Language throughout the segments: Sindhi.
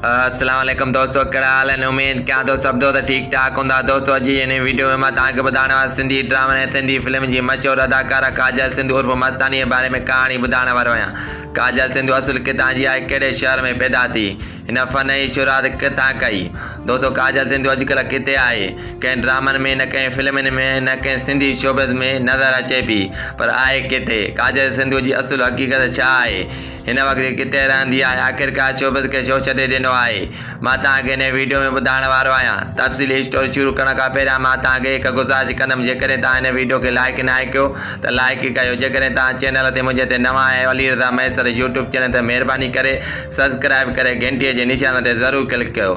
السلام عليڪم دوستو ڪهڙا حال آهن اميد ڪيان ٿو سڀ دوست ٺيڪ ٺاڪ هوندا دوستو اڄ جي هن ويڊيو ۾ مان توهان کي ٻڌائڻ وارو سنڌي ڊرامن ۽ سنڌي فلمن جي مشهور اداڪاره ڪاجل سنڌو عرف مستاني جي باري ۾ ڪهاڻي ٻڌائڻ وارو آهيان ڪاجل سنڌو اصل ڪٿان جي آهي ڪهڙي شهر ۾ پيدا ٿي هن فن جي شروعات ڪٿان ڪئي دوستو ڪاجل سنڌو اڄڪلهه ڪٿي آهي ڪنهن ڊرامن ۾ نه ڪنهن فلمن ۾ نه ڪنهن سنڌي شوبز ۾ نظر اچي ٿي پر آهي ڪٿي ڪاجل سنڌو جي اصل حقيقت ڇا آهي هن وقت ڪٿي رهندي آهي آخرڪار شعبد کي ڇو ڇڏي ڏنو آهي مان توهان کي هن ويڊيو ۾ ٻڌائڻ وارو آهيان تفصيلي اسٽوري شروع ڪرڻ کان پهريان مان توهان کي هڪ گذارش ڪندم جيڪڏهن توهان هن ويڊيو کي لائيڪ ناهي ڪيو ته لائيڪ ڪيو جيڪڏهن توهان چينل تي منهنجي تي نوان آهيو علي رضا مهيسر يوٽيوب چينل تي مهرباني ڪري سبسڪرائيب ڪري گهنٽي جي نشان تي ضرور ڪلڪ ڪيو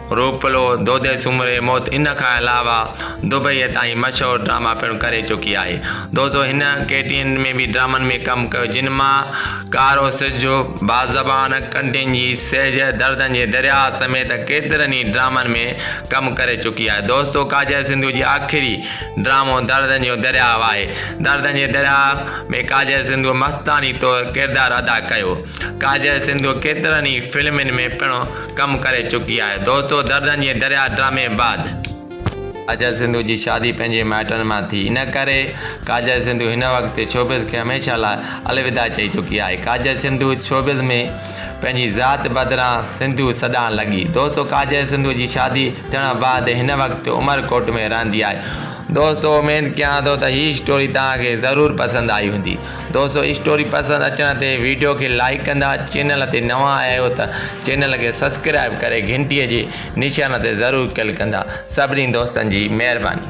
روپلو، دودي سومري موت ان کان علاوه دبئيء تائين مشهور ڊراما پڻ ڪري چڪي آهي. دوستو هن ڪي ٽي اين ۾ به ڊرامن ۾ ڪم ڪيو جن مان ڪارو سج، با زبان، ڪنڊين جي سيج، دردن جي درياء سميت ڪيترن ئي ڊرامن ۾ ڪم ڪري چڪي آهي. دوستو ڪاجل سنڌو جي آخري ڊرامو دردن جو درياء آهي. دردن جي درياء ۾ ڪاجل سنڌوء مستاڻي طور ڪردار ادا ڪيو. ڪاجل سنڌو ڪيترن ئي فلمن ۾ پڻ ڪم ڪري چڪي آهي. دوستو دردن جي درياء ڊرامي بعد. ڪاجل سنڌو جي شادي پنهنجي مائٽن مان ٿي. ان ڪري ڪاجل سنڌو هن وقت شوبز کي هميشه لاء الوداع چئي چڪي آهي. ڪاجل سنڌو شوبز ۾ پنهنجي ذات بدران سنڌو سڏائڻ لڳي. دوستو ڪاجل سنڌو جي شادي ٿيڻ بعد هن وقت عمر ڪوٽ ۾ رهندي آهي. دوستو اميد ڪيان ٿو ته هي اسٽوري توهان کي ضرور پسند آئي هوندي. دوستو اسٽوري پسند اچڻ تي ويڊيو کي لائيڪ ڪندا چينل تي نوان آيا آهيو ته چينل کي سبسڪرائيب ڪري گهنٽي جي نشان تي ضرور ڪلڪ ڪندا سڀني دوستن جي مهرباني.